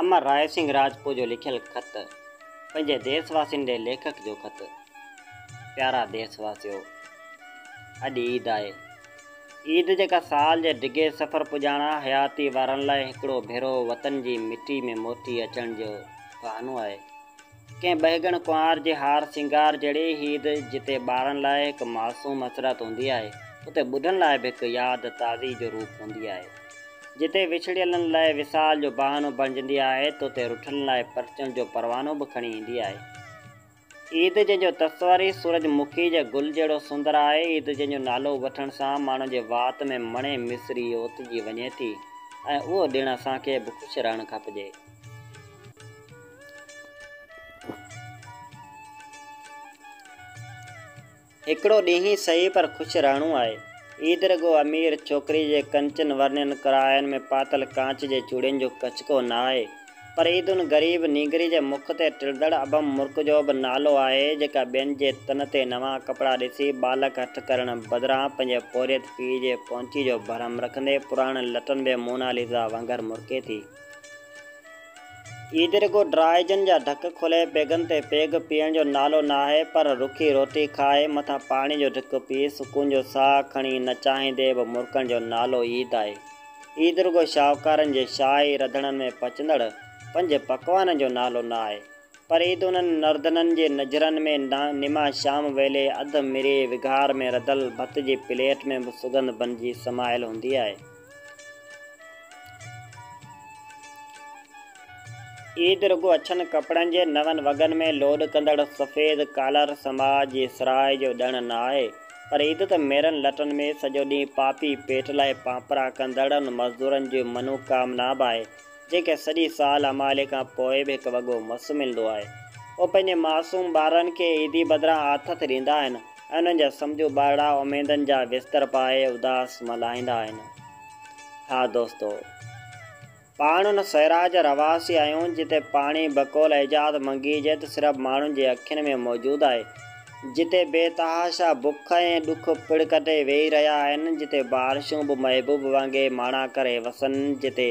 امر راء سنگهه راجپوء جو لکيل خط پنهنجي ديس واسين ڏي ليکڪ جو خط پيارا ديس واسيو اڄ عيد آهي عيد جيڪا سال جي ڊگهي سفر پڄاڻا حياتي وارن لاء هڪڙو ڀيرو وطن جي مٽي ۾ موٽي اچڻ جو بهانو آهي ڪنهن ٻهڳڻ ڪنوار جي هار سينگار جهڙي عيد جتي ٻارن لاء هڪ معصوم مسرت هوندي آهي، اتي ٻڍن لاء به هڪ ياد تازي جو روپ هوندي آهي. جتي وڇڙيلن لاء وصال جو بهانو بڻجندي آهي ته اتي رٺلن لاء پرچڻ جو پروانو به کڻي ايندي آهي. عيد جنهن جو تصور ئي سورج مکي جي گل جهڙو سندر آهي، عيد جنهن جو نالو وٺڻ سان ماڻهن جي وات ۾ مڻي مصري اوتجي وڃي ٿي ۽ اهو ڏڻ اسان کي به خوش رهڻ کپجي. هڪڙو ڏينهن ئي سهي پر خوش رهڻو آهي. عيد رڳو امير ڇوڪري جي ڪنچن ورنين ڪڙاهين ۾ پاتل ڪانچ جي چوڙين جو ڪچڪو نه آهي، پر عيد ان غريب نينگري جي مک تي ٽڙندڙ ابهم مرڪ جو به نالو آهي، جيڪا ٻين جي تن تي نوان ڪپڙا ڏسي ٻالڪ هٺ ڪرڻ بدران پنهنجي پورهيت پيء جي پونچي جو برهم رکندي پراڻن لٽن ۾ موناليزا وانگر مرڪي ٿي. عيد رڳو ڊرائيجن جا ڍڪ کولي پيگن تي پيگ پيئڻ جو نالو ناهي پر رکي روٽي کائي مٿان پاڻي جو ڍڪ پي سڪون جو ساهه کڻي نه چاهيندي به مرڪڻ جو نالو عيد آهي. عيد رڳو شاهوڪارن جي شاهي رڌڻن ۾ پچندڙ پنج پڪوانن جو نالو ناهي پر عيد انهن نردنن جي نجرن ۾ نما شام ويلي اڌ مري وگهار ۾ رڌل ڀت جي پليٽ ۾ به سڳنڌ بنجي سمايل هوندي آهي. عيد رڳو اڇن ڪپڙن جي نون وڳن ۾ لوڏ ڪندڙ سفيد ڪالر سماج جي سرهائي جو ڏڻ نه آهي، پر عيد ته ميرن لٽن ۾ سڄو ڏينهن پاپي پيٽ لاء پانپرا ڪندڙن مزدورن جي منوڪامنا به آهي، جنهن کي سڄي سال امالي کان پوء به هڪ وڳو مس ملندو آهي. هو پنهنجي معصوم ٻارڙن کي عيدي بدران آٿت ڏيندا آهن، انهن جا سمجهو ٻارڙا اميدن جا بستر پائي اداس ملهائيندا آهن. ها دوستو! پاڻ ان سيراء جا رهواسي آهيون، جتي پاڻي بقول ايجاد منگي جي ته صرف ماڻهن جي اکين ۾ موجود آهي، جتي بي تحاشا بک ۽ ڏک پڙ ڪٽي ويهي رهيا آهن، جتي بارشون به محبوب وانگي ماڻا ڪري وسن، جتي.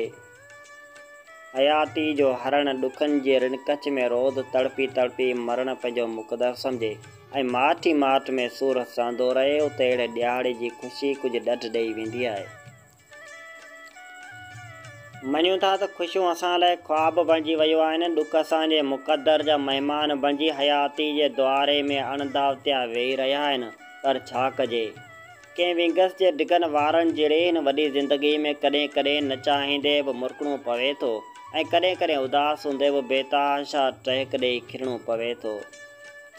حياتيء جو هرڻ ڏکن جي رن ڪچ ۾ روز تڙپي تڙپي مرڻ پنهنجو مقدر سمجهي ۽ ماٺ ئي ماٺ ۾ سور هسندو رهي، اتي اهڙي ڏيهاڙي جي خوشي ڪجهه ڏڍ ڏيئي ويندي آهي. مڃون ٿا ته خوشيون اسان لاء خواب بڻجي ويون آهن، ڏک اسان جي مقدر جا مهمان بڻجي حياتيء جي دواري ۾ اڻداوتيا ويهي رهيا آهن، پر ڇا ڪجي؟ ڪنهن ونگس جي ڊگهن وارن جهڙي هن وڏي زندگيء ۾ ڪڏهن ڪڏهن نه چاهيندي به مرڪڻو پوي ٿو ۽ ڪڏهن ڪڏهن اداس هوندي به بيتحاشا ٽهڪ ڏيئي کلڻو پوي ٿو.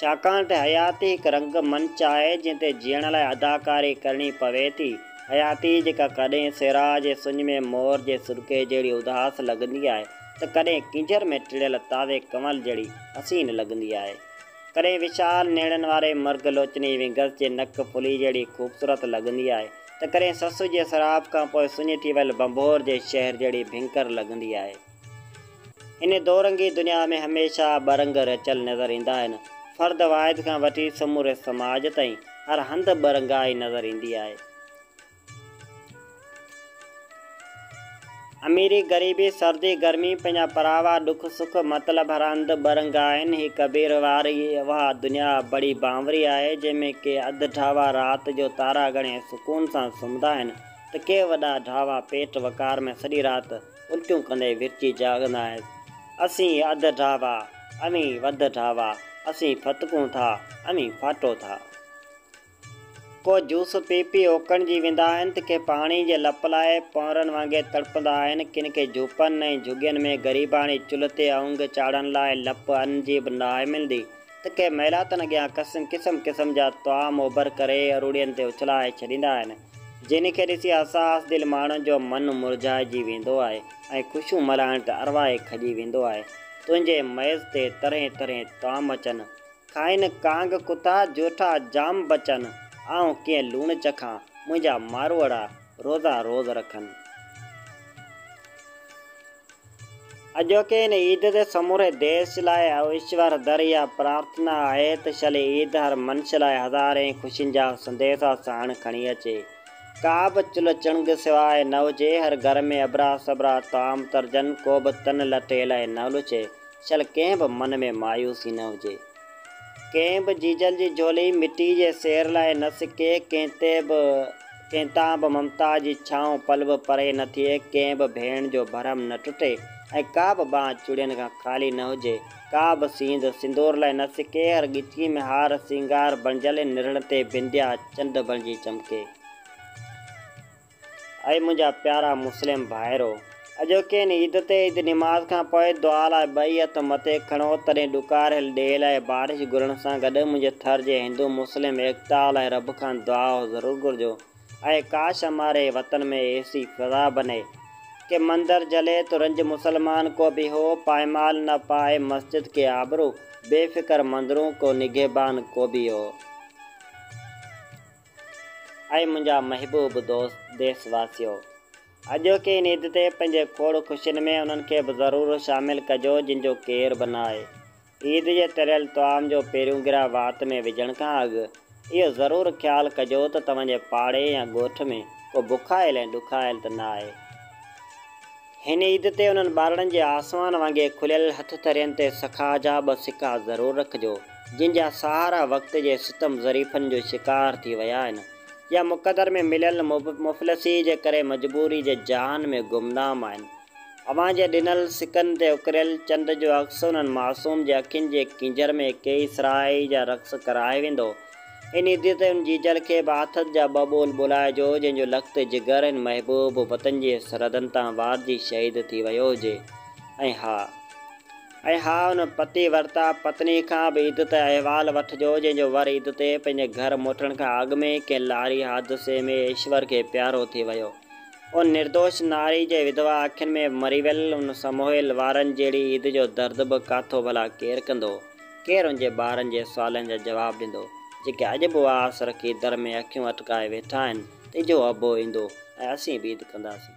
ڇاڪاڻ ته حياتي هڪ رنگ منچ آهي جنهن تي جيئڻ لاء اداڪاري ڪرڻي پوي ٿي، حياتي جيڪا ڪڏهن سراء جي سڃ ۾ مور جي سرڪي جهڙي اداس لڳندي آهي ته ڪڏهن ڪينجهر ۾ ٽڙيل تازي ڪنول جهڙي حسين لڳندي آهي. ڪڏهن وشال نيڻن واري مرگ لوچني وينگس جي نڪ ڦلي جهڙي خوبصورت لڳندي آهي ته ڪڏهن سسئو جي سراب کان پوء سڃي ٿي ويل ڀنڀور جي شهر جهڙي ڀينڪر لڳندي آهي. هن دو رنگي دنيا ۾ هميشه ٻه رنگ رچيل نظر ايندا آهن. فرد واحد کان وٺي سموري سماج تائين هر هنڌ ٻه رنگائي نظر ايندي آهي. اميري غريبي، سردي گرمي، پنهنجا پراوا، ڏک سک، مطلب هرهنڌ ٻه رنگ آهن. هي ڪبير واري اها دنيا بڙي بانوري آهي، جنهن ۾ ڪي اڌ ڍاوا رات جو تارا ڳڻي سڪون سان سمهندا آهن ته ڪي وڏا ڍاوا پيٽ وقار ۾ سڄي رات الٽيون ڪندي ورچي جاڳندا آهن. اسين اڌ ڍاوا، اوهين وڌ ڍاوا، اسين ڦٿڪون ٿا، اوهين ڦاٽو ٿا. ڪو جوس پي پي اوڪڻ جي ويندا آهن ته ڪي پاڻي جي لپ لاء پونئرن وانگي تڙپندا آهن. ڪن کي جهوپن ۽ جهڳين ۾ غريباڻي چلهه تي اونگ چاڙهڻ لاء لپ ان جي به ناهي ملندي ته ڪي محلاتن اڳيان قسم قسم قسم جا طعام اوڀر ڪري اروڙين تي اڇلائي ڇڏيندا آهن جن کي ڏسي حساس دل ماڻهن جو من مرجهائجي ويندو آهي ۽ خوشيون ملهائڻ ته اروائي کڄي ويندو آهي. تنهنجي ميز تي طرحين طرحين طعام اچن. کائن ڪانگ ڪتا جوٺا جام بچن، آئون ڪيئن لوڻ چکان، منهنجا ماروئڙا روزا روز رکن. اڄوڪي ان عيد تي سموري ديس لاء ايشور در اها پرارٿنا آهي ته شل عيد هر منش لاء هزارين خوشين جا سنديسا ساڻ کڻي اچي. ڪا به چلهه چڻگ سواء نه هجي، هر گهر ۾ ابرا سبرا طعام ترجن، ڪو به تن لتيل نه لڇي. شل ڪنهن به من ۾ مايوسي نه هجي. ڪنهن به جيجل جي جهولي مٽي جي سير لاء نه سڪي، ڪنهن تي به ڪنهن تان به ممتا جي ڇانو پل به پري نه ٿئي، ڪنهن به ڀيڻ جو ڀرم نه ٽٽي ۽ ڪا به ٻانهن چوڙين کان خالي نه هجي، ڪا به سينڌ سندور لاء نه سڪي، هر ڳچيء ۾ هار سينگار بڻجل نرڙن تي بنديا چنڊ بڻجي چمڪي. اي منهنجا پيارا مسلم ڀائرو! اڄوڪين عيد تي عيد نماز کان پوء دعا لاء ٻئي هٿ مٿي کڻو، تڏهن ڏڪاريل ڏيهه لاء بارش گهرڻ سان گڏ منهنجي ٿر جي هندو مسلم ايڪتا لاء رب کان دعا ضرور گهرجو ۽ ڪاش اماري وطن ۾ ايسي فضا بني ڪي مندر جلي تو رنج مسلمان ڪو به هو پائمال نه پائي مسجد ڪي آبرو بي فڪر مندرون ڪو نگهبان ڪو به هو. اي منهنجا محبوب دوست ديس واسيو! اڄوڪي هن عيد تي پنهنجي کوڙ خوشين ۾ انهن کي به ضرور شامل ڪجو جن جو ڪير به ناهي. عيد جي تريل طعام جو پهريون گرهه وات ۾ وجهڻ کان اڳ اهو ضرور خيال ڪجو ته توهان جي پاڙي يا ڳوٺ ۾ ڪو بکايل ۽ ڏکايل ته ناهي. هن عيد تي انهن ٻارڙن جي آسمان وانگي کليل هٿ ٿرين تي سخا جا ٻه سڪا ضرور رکجو، جن جا سهارا وقت جي ستم ظريفن جو شڪار ٿي ويا آهن يا مقدر ۾ مليل مفلسيء جي ڪري مجبوري جي جاهن ۾ گمنام آهن. اوهان جي ڏنل سڪن تي اڪريل چنڊ جو عڪس انهن معصوم جي اکين جي ڪينجهر ۾ ڪيئي سرهائي جا رقص ڪرائي ويندو. ان دي تي ان جي جل کي به آٿت جا ٻه ٻول ٻولائجو، جنهن جو لخت جگر ان محبوب وطن جي سرحدن تان وارجي شهيد ٿي ويو هجي ۽ ها ۽ ها ان پتي ورتا پتني کان به عيد تي احوال وٺجو، جنهن جو ور عيد تي پنهنجي گهر موٽڻ کان اڳ ۾ ئي ڪنهن لاري حادثي ۾ ايشور کي پيارو ٿي ويو ان نردوش ناري جي وڌوا اکين ۾ مري ويل ان سمهويل وارن جهڙي عيد جو درد به ڪاٿو ڀلا ڪير ڪندو؟ ڪير ان جي ٻارن جي سوالن جا جواب ڏيندو، جيڪي اڄ به اها آس رکي در ۾ اکيون اٽڪائي ويٺا آهن ته اجهو ابو ايندو ۽ اسين به عيد ڪنداسين.